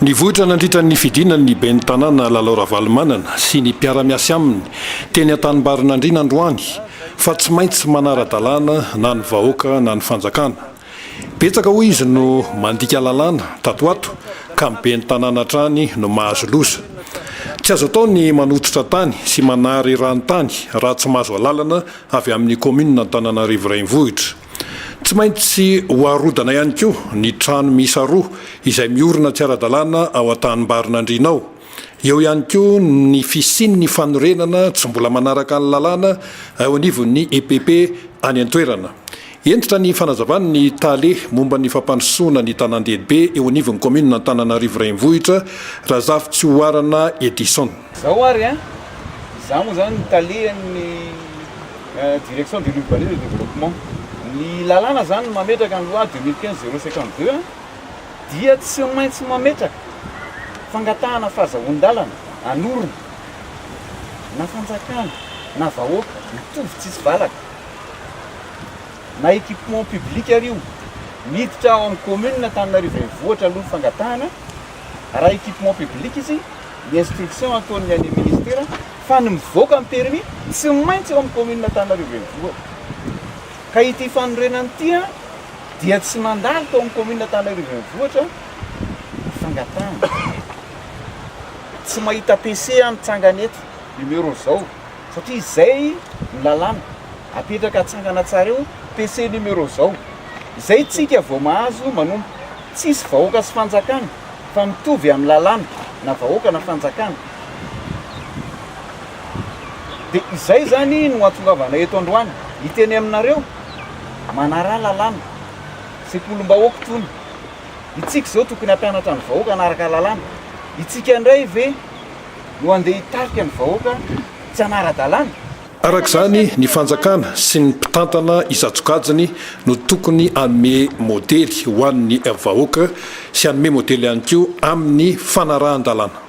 Nivoitra nandritra ny fidinany ny ben'ny Tanàna Lalao Ravalomanana sy ny mpiara-miasy aminy teny Antanimbarinandriana androany fa tsy maintsy manara-dalàna na ny vahoaka na ny fanjakana. Betsaka hoy izy no mandika lalàna tato ho ato ka ny ben'ny Tanàna hatrany no mahazo loza. Tsy azo atao ny manototra tany sy manary rano tany raha tsy mahazo alalana avy amin'ny kaominina Antananarivo Renivohitra. Tsy maintsy ho arodana ihany koa ny trano miisa roa izay miorina tsy ara-dalàna ao an-tanimbarin'Andriana ao. Eo ihany koa ny fisian'ny fanorenana tsy mbola manaraka ny lalàna eo anivon'ny EPP any an-toerana. Hentitra ny fanazavan'ny tale momba ny fampandrosoana ny tanàn-dehibe eo anivon'ny kaominina Antananarivo Renivohitra, Razafitsihoarana Edison. Zao ary an! Za moa zany ny talehan'ny Direction de l'urbanisme et du développement. Ny lalàna zany mametraka ny loi deux mille quinze zéro cinquante deux an! dia tsy maintsy mametraka fangatahana fahazahoan-dalana hanorina na fanjakana na vahoaka mitovy tsisy valaka na équipement public ary io miditra ao amin'ny commune Antananarivo Renivohitra aloha ny fangatahana raha equipement public izy, ny instruction ataon'ny any amin'ny ministera fa ny mivoaka ny permis tsy maintsy ao amin'ny commune Antananarivo Renivohitra. Ka ity fanorenana ity dia tsy mandalo tao amin'ny commune Antananarivo Renivohitra ny fangatahana. Tsy mahita PC aho mitsangana eto, numéro izao. Satria izay no lalàna apetraka atsangana tsara eo, PC numéro zao. Izay tsika vao mahazo manompo. Tsisy vahoaka sy fanjakana fa mitovy amin'ny lalàna na vahoaka na fanjakana. Dia izay izany no ahatongavana eto androany hiteny aminareo manaraha lalàna. Sekolim-bahoaka itony. Itsika izao tokony hampianatra ny vahoaka hanaraka lalàna. Itsika indray ve. no handeha hitarika ny vahoaka tsy hanara-dalàna? Araka izany, ny fanjakana sy ny mpitantana isan-tsokajiny no tokony hanome modely ho an'ny vahoaka sy hanome modely ihany koa amin'ny fanarahan-dalàna.